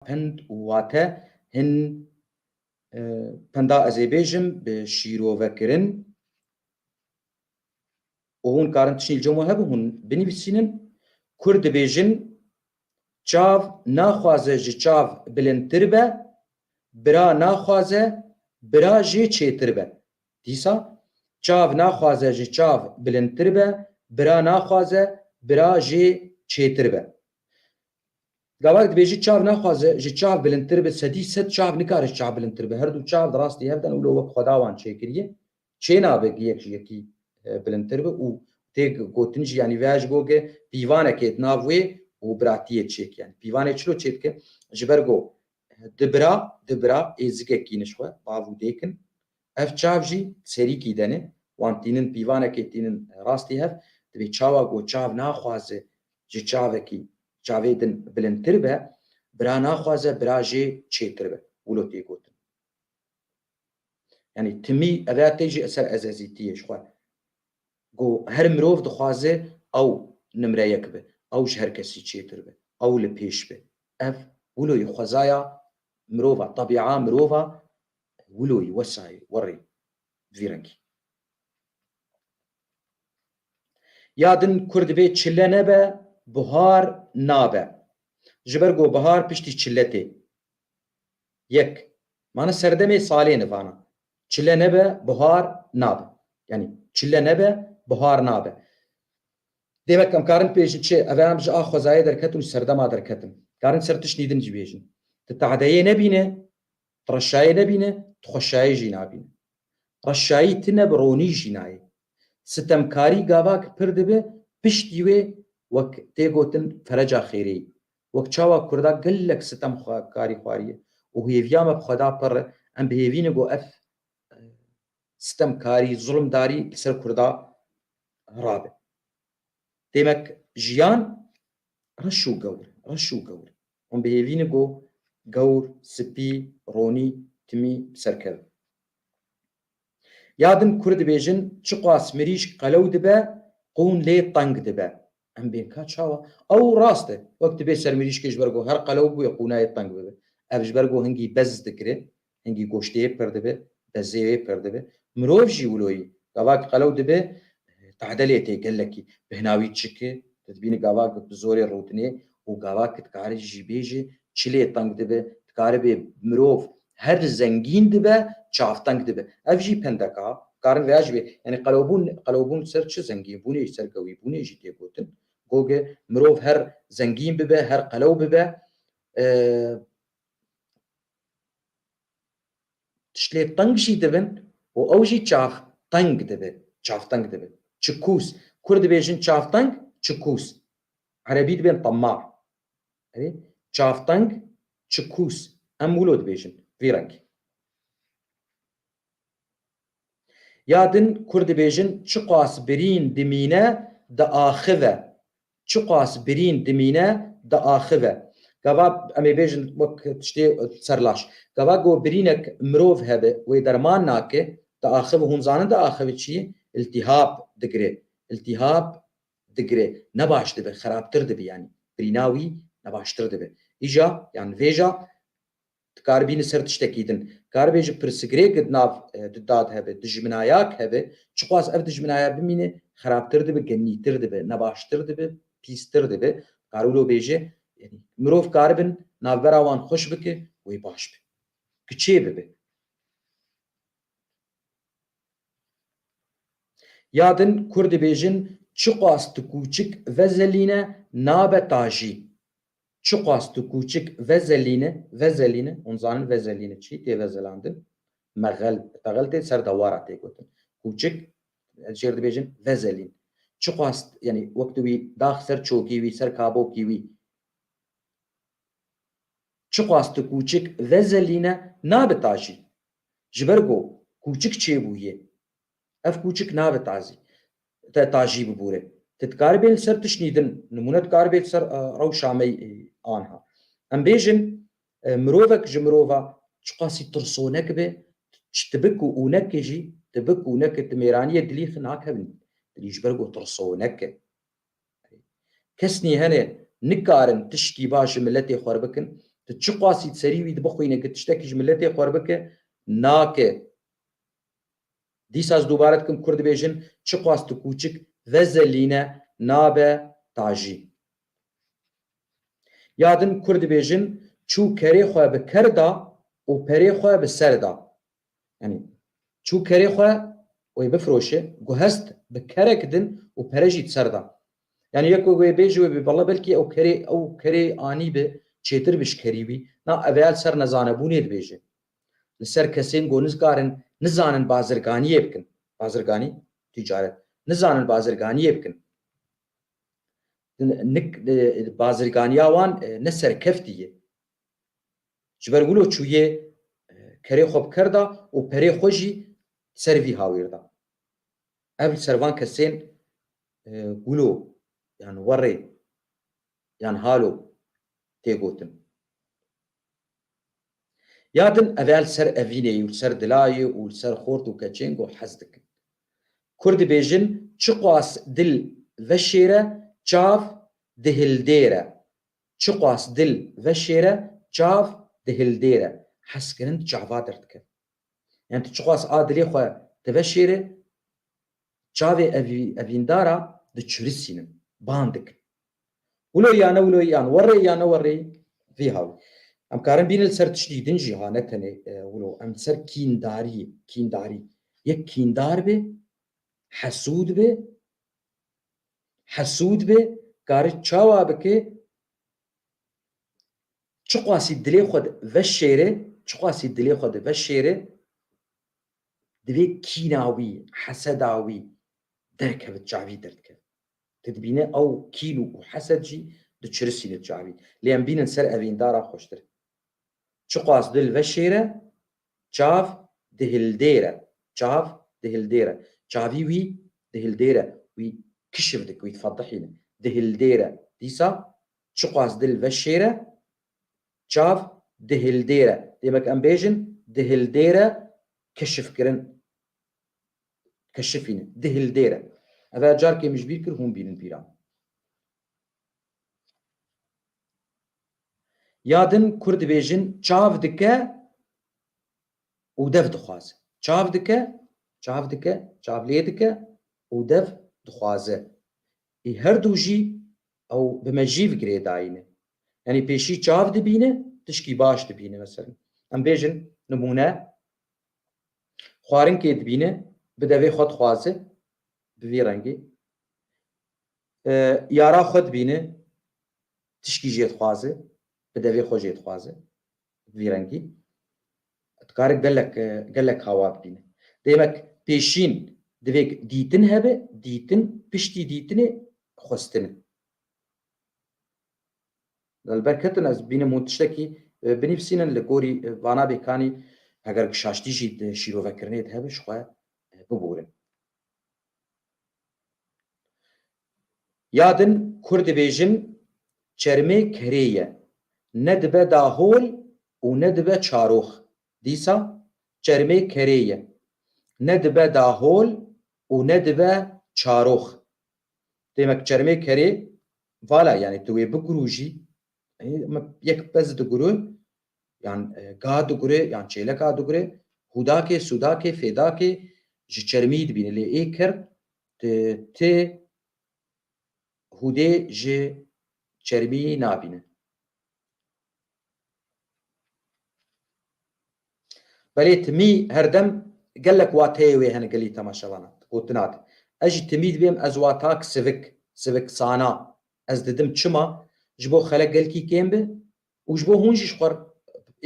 Pind û wate hin pinda ez ê bêjim bi şîrovekirin û hûn karin tişîn li coma hebû hûn binivîsînin. Kurd dibêjin çav naxwaze ji çav bilindtir be, bira naxwaze bira jê çêtir be. Dîsa çav naxwaze ji çav bilindtir be, bira naxwaze bira jê çêtir be. Gavak dibêjî çav naxwaze ji çav bilindtir be, sedî sed çav nikare ji çav bilindtir be. Herdu çav di rastî hev de ne û lo wek xweda wan çêkiriye. Çênabe gi yek ji yekî bilindtir be û tê gotin jî yanî veya ji bo ge pîvanek ê di nav wê û biratiyê çêk yanî pîvanê çilo çê dike ji ber go di bira di bira ê zikek kîniş xwe bav û dêk in Ev çav jî serîkî dene, wan tînin pîvanekê tînin rastî hev, divê çawa ku çav naxwaze ji çavekî çavê din bilindtir be, bira naxwaze bira jê çêtir be, wilo tê gotin. Yanî timî ev ya tê jî ser ezezîtiyê ji xwe ku her mirov dixwaze ew nimre yek be, ew ji her kesî çêtir be, ew li pêş be. Ev wilo ye xwezaya mirov a, tebîa mirov a Wilo yi wesayê werê bi vî rengî. Ya din kur dibê çile nebe bihar nabe. Ji ber ku bihar piştî çile tê. Yek, Mane serdemê salê ne vana. Çile nebe bihar nabe. Yanî çile nebe bihar nabe. Demek em karin bibêjin çi? Ev e em ji a xwezayê derketin û serdema derketin. Karin ser tiştî din jî bêjin. Ti tehdeyê nebîne Tu reşayê nebîne, tu xweşayê jî nabîne. Reşayî ti ne bi ronî jî nayê. Sitemkarî gava ki pir dibe, piştî wê wek tê gotin fereca xêrêyî. Wek çawa kurda gelek sitem xwe karî xwariye û hêviya me bi xwe da pirr e, em bihêvîne ku ev sitemkarî, zulmdarî li ser kurda rabe. Demek jiyan reş û gewr e, reş û gewr e. Hûn bihêvîne ku gewr, spî, ronî, timî bi ser kevin. Ya din kurd dibêjin çiqas mirîşk qelew dibe, qûn lê teng dibe. Em bên ka çawa? Ew rast e. Wek dibê ser mirîşkê ji ber ku her qelew bûye qûnayê teng bibe. Ev ji ber ku hingî bez dikire, Hingî goştê pir dibe, bezê wê pir dibe. Mirov jî wilo yî. Gavak qelew dibe, tadelê tê gelekî. Bi hina wî çik e. Tu dibînî gavak bi zorê rûtinê û gavak ki dikarî jî bêjê, çilê teng dibe. Dikaribê mirov her zengîn dibe, çavteng dibe. Ev jî pendek a. Dikarin vêya jî bê. Yanî qelewbûn, qelewbûn ser çi? Zengînbûnê jî, serkewîbûnê jî tê gotin. Gog e, mirov her zengîn bibe, her qelew bibe, Tiştê teng jî dibin û ew jî çax teng dibe, çaxteng dibe. Çikûs, Kurd dibêjin çaxteng, çikûs. Erebî dibên temma. Erê, çaxteng, çikûs. Em wilo dibêjin, vî rengî. Ya din kur dibêjin çiqas birîn dimîne diaxive, çiqas birîn dimîne diaxive. Gava em ê bêjin wek tiştê serlaş. Gava ku birînek mirov hebe wê derman nake diaxive hûn zanin diaxive çi ye? Îltîhab digire. Îltîhab digire. Ne baş dibe, xerabtir dibe yanî. Birîna wî ne baştir dibe. Îja yan vêja dikaribî li ser tiştekî din karibê ji pirsgirêk di nav di dad hebe, dijminayak hebe, çixwaz ev dijminaya bimîne xerabtir dibe, genîtir dibe, nebaştir dibe, pîstir dibe, dikare wilo bêje, yanî mirov karibin navbera wan xweş bike wê baş be. Ki çê bibe. Ya din kur dibêjin çiqas ti kûçik vezelîne nabe tajî. Çiqas tu kûçik vezelîne, vezelîne, hûn zanin vezelîne çi, tê vezelandin, meghel, teghel tê ser dewara tê gotin. Kûçik, ez jêr dibêjin vezelîn. Çiqas, yanî wek tu wî dax ser çokî wî, ser kabokî wî. Çiqas tu kûçik vezelîne, nabe tajî. Ji ber ku kûçik çêbûyê. Ev kûçik nabe tazî. te tajî bibûre. Ti dikaribê li ser tişt nîdin, nimûne dikaribê li ser rewşa me anha. Em bêjin mirovek ji mirova çiqasî tirsonek be, ji tibik û ûnekê jî, tibik û ûnekê di mêraniyê dilî xi nakevin, dilî ji ber ku tirsonek e. Kesnî hene nikarin tiştî baş ji miletê xwe re bikin, ti çiqasî di serî wî dibixwîne ku tiştekî ji miletê xwe re bike, nake. Dîsa ez dubare dikim kurd dibêjin çiqas tu kûçik ve zelîne nabe tajî. Ya din kurd dibêjin çû kerê xwe bi ker da û perê xwe bi ser da. Yanî çû kerê xwe wê bifiroşe, guhest bi kerek din û pere jî di ser da. Yanî yek wê wê bêje wê bê bela belkî ew kerê ew kerê anî bi çêtir bi ji kerî wî. Na eveyal ser nezanebûnê dibêje. Li ser kesên ku nizkarin nizanin bazirganiyê bikin, bazirganî, tîcaret, nizanin bazirganiyê bikin, bazirganiya wan ne serkeftî ye. Ji ber wilo çûye kerê xwe bi ker da û perê xwe jî ser vî hawîr da. Ev li ser van kesên wilo yan werê yan halo tê gotin. Ya din ev ya li ser evînê û li ser dilayê û li ser xort û keçêng û hez dikin. Kurd dibêjin çiqas dil veşêre çav dihildêre çiqas dil veşêre çav dihildêre hezkirin di çava derdikevin. Yan tu çiqas a dilê xwe diveşêrê Çavê evîndara diçurisînin, ban dikin. Wilo ya ne wilo yan werê ya ne werê vî hawî. Em karin bînin li ser tiştî din jî ha ne tenê wilo. Em li ser kîndariyê, kîndarî. Yek kîndar bê, hesûd bê, hesûd bê kari çawa bike çiqasî dilê xwe di veşêre, çiqasî dilê xwe di veşêre Divê kîna wî, heseda wî derkevit çavî derdikevin. Tu dibîne ew kîn û ku hesed jî diçirisîne çavî. Lê em bînin ser evîn dara xweştir e. Çiqas dil veşêre, çav dihildêre. Çav dihildêre. Çavî wî dihildêre. Wî kişif dik, wî difedihîne. Dihildêre. Dîsa çiqas dil veşêre, Çav dihildêre, demek em bêjin dihildêre keşifkirin, keşifîn, dihildêre. Ev her carkê min ji bîr kir hûn bînin pîran. Ya din Kurd dibêjin çav dike û dev dixwaze. Çav dike, çav dike, çav lê dike û dev dixwaze. Ê her du jî ew bi me jîv girê dayîne. Yanî pêşî çav dibîne, tişkî baş dibîne. Meselem em bêjin nimûne, xwarinkê dibîne, bi devê xwe dixwaze, bi vî rengî. Yara xwe dibîne, tişkî jê dixwaze, bi devê xwe jê dixwaze. Bi vî rengî dikare gelek gelek hawa bibîne. Demek pêşîn divê dîtin hebe, dîtin piştî dîtinê xwestin e. Li ber ketin ez bînim hûn tiştekî binivîsînin li gorî vana bêkanî heger ki şaştî jî di şîrovekirinê de hebe ji xwe biborin. Ya din kurd dibêjin çermê kerê ye, ne dibe dahol û ne dibe çarox. Dîsa çermê kerê ye, ne dibe dahol û ne dibe çarox. Demek çermê kerê vala yanî tu wê bigurûjî, yek pez digurû yan ga digure yan çêleka digure hûdakê sûdakê fêdakê ji çermî dibîne lê ê kird ti ti hûdê ji çermî nabîne. Belê timî herdem gelek wateyê wê hene gelî temaşevanan gotina de. Ez jî timî dibêm ez watak sivik, sivik sana ez didim çima ji bo xelek gelkî kêm bi û ji bo hûn jî ji xwe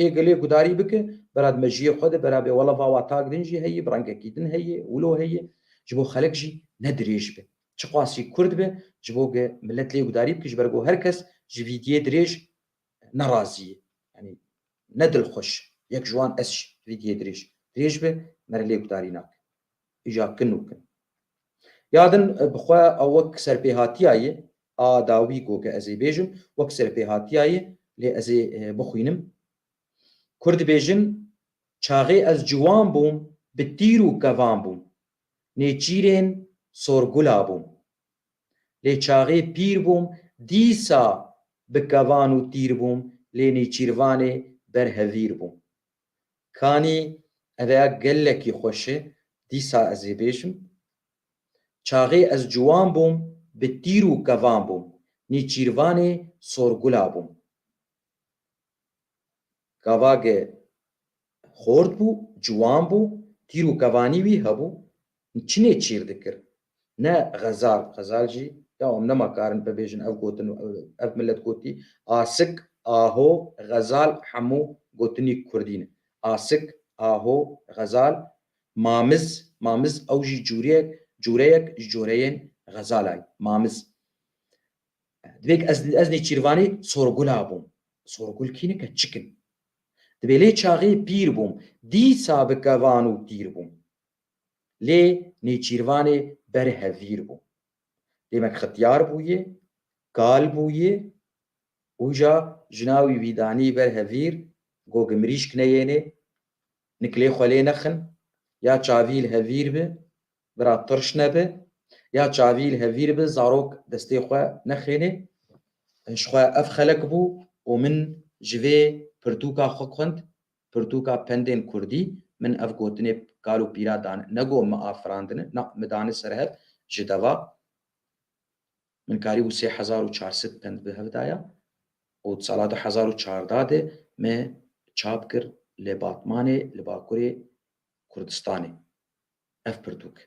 ê gilê gudarî bike, bera di mejiyê xwe de bera bê wele va wa tak din jî heye, bi rengekî din heye, wilo heye, ji bo xelek jî ne dirêj be. Çiqasî kurd be, ji bo ge milet lê gudarî bike, ji ber ku her kes ji vîdiyê dirêj ne razî ye. Yanî ne dilxweş, yek ji wan ez jî vîdiyê dirêj. Dirêj be, me re lê gudarî nake. hija kin û kin. Ya din bi xwe a wek serpêhatiyayê a dawî got ke ez ê bêjim wek serpêhatiyayê lê ez ê bixwînim. Kurd dibêjin çaxê ez ciwan bûm bi tîr û kevan bûm, nêçîrên sorgula bûm. Lê çaxê pîr bûm dîsa bi kevan û tîr bûm lê nêçîrvanê ber hevîr bûm. Kanî rêya gelekî xweş e, dîsa ez ê bêjim. Çaxê ez ciwan bûm, bi tîr û kevan bûm, nîçîrvanê sorgula bûm. Gavage xort bû, ciwan bû, tîr û kevanî wî hebû, Min çi nêçîr dikir. Ne xezal, xezal jî ya em nema karin bibêjin ev gotin û ev milet gotî, asik, aho, xezal hemû gotinî kurdî ne. Asik, aho, xezal, mamiz, mamiz ew jî cureyek, cureyek ji cureyên xezalan ye. Mamiz. Divê ke ez ez nêçîrvanî sorgula bûm. Sorgul kî nike çik in. Divê lê çaxê pîr bûm, dîsa bi kevan û tîr bûm. Lê Nêçîrvanê ber hevîr bû. Demek xetiyar bûye, kal bûye û ja jina wî vîdanî ber hevîr gog mirîşk neyêne, nikilê xwe lê nexin, ya çavî li hevîr bi, bira tirş nebe, ya çavî li hevîr bi zarok destê xwe nexêne. Ji xwe ev xelek bû û min ji vê pirtûka xwe xwend Pirtûka pendên kurdî, Min ev gotinê kal û pîra dan, ne got mi afirandine, na mi dane ser hev, ji deva min karîbû sê hezar û çar sed pend bi hev daya û di sala du hezar û çardeh de me çap kir li Batmanê li bakurê Kurdistanê ev pirtûk.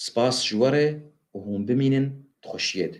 Spas ji we re û hûn bimînin di xweşiyê de.